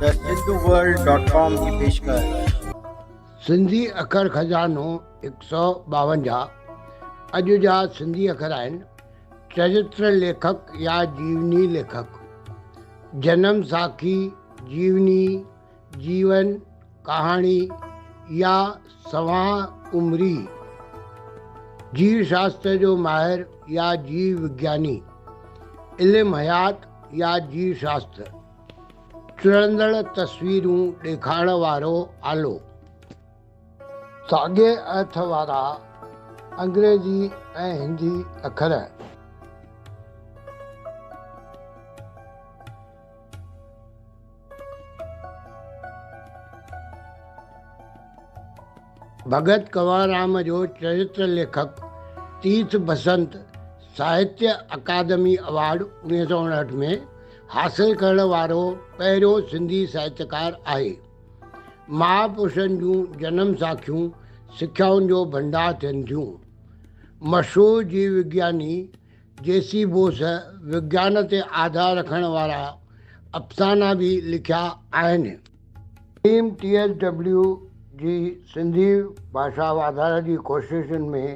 ته Sindhu world dot com جي پيشڪش. سنڌي اکر خزانو هڪ سؤ ٻاونجاهه اڄ جا سنڌي اکر آهن چرتر ليکڪ يا جيوني ليکڪ جنم ساکي جيوني جيون ڪهاڻي يا سوانح عمري جيو شاستر جو ماهر يا جيو وگياني علم حيات يا جيو شاستر چڙندڙ تصويرون ڏيکارڻ وارو آلو. ساڳئي ارٿ وارا انگريزي ۽ هندي اکر. ڀڳت ڪنوررام جو چريتر ليکڪ تيرٿ بسنت ساهتيه اڪادمي ايوارڊ انويهه سؤ اڻهٺ ۾ حاصل ڪرڻ وارو پهريون سنڌي ساهتڪار آهي. ماء پرشن جون جنم ساکيون سکيائن جو ڀنڊار ٿين ٿيون. مشهور جيو وگياني جي سي بوس وگيان تي آڌار رکڻ وارا افسانا به لکيا آهن. حڪيم ٽي ايس ڊبليو جي سنڌي ڀاشا واڌاري جي ڪوششن ۾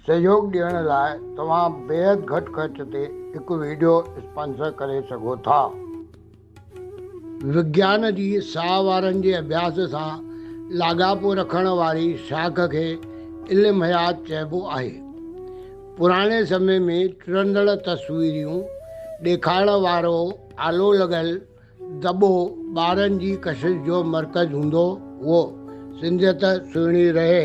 سهيوگ ڏيڻ لاء توهان بيحد گهٽ خرچ تي هڪ ويڊيو اسپانسر ڪري سگهو ٿا. وگيان جي ساهه وارن جي اڀياس سان لاڳاپو رکڻ واري شاخ کي علم حيات چئبو آهي. پراڻي سمي ۾ ٽرندڙ تصويريون ڏيکارڻ وارو آلو لڳل دٻو ٻارن جي ڪشش جو مرڪز هوندو هئو. سنڌيت سهڻي رهي.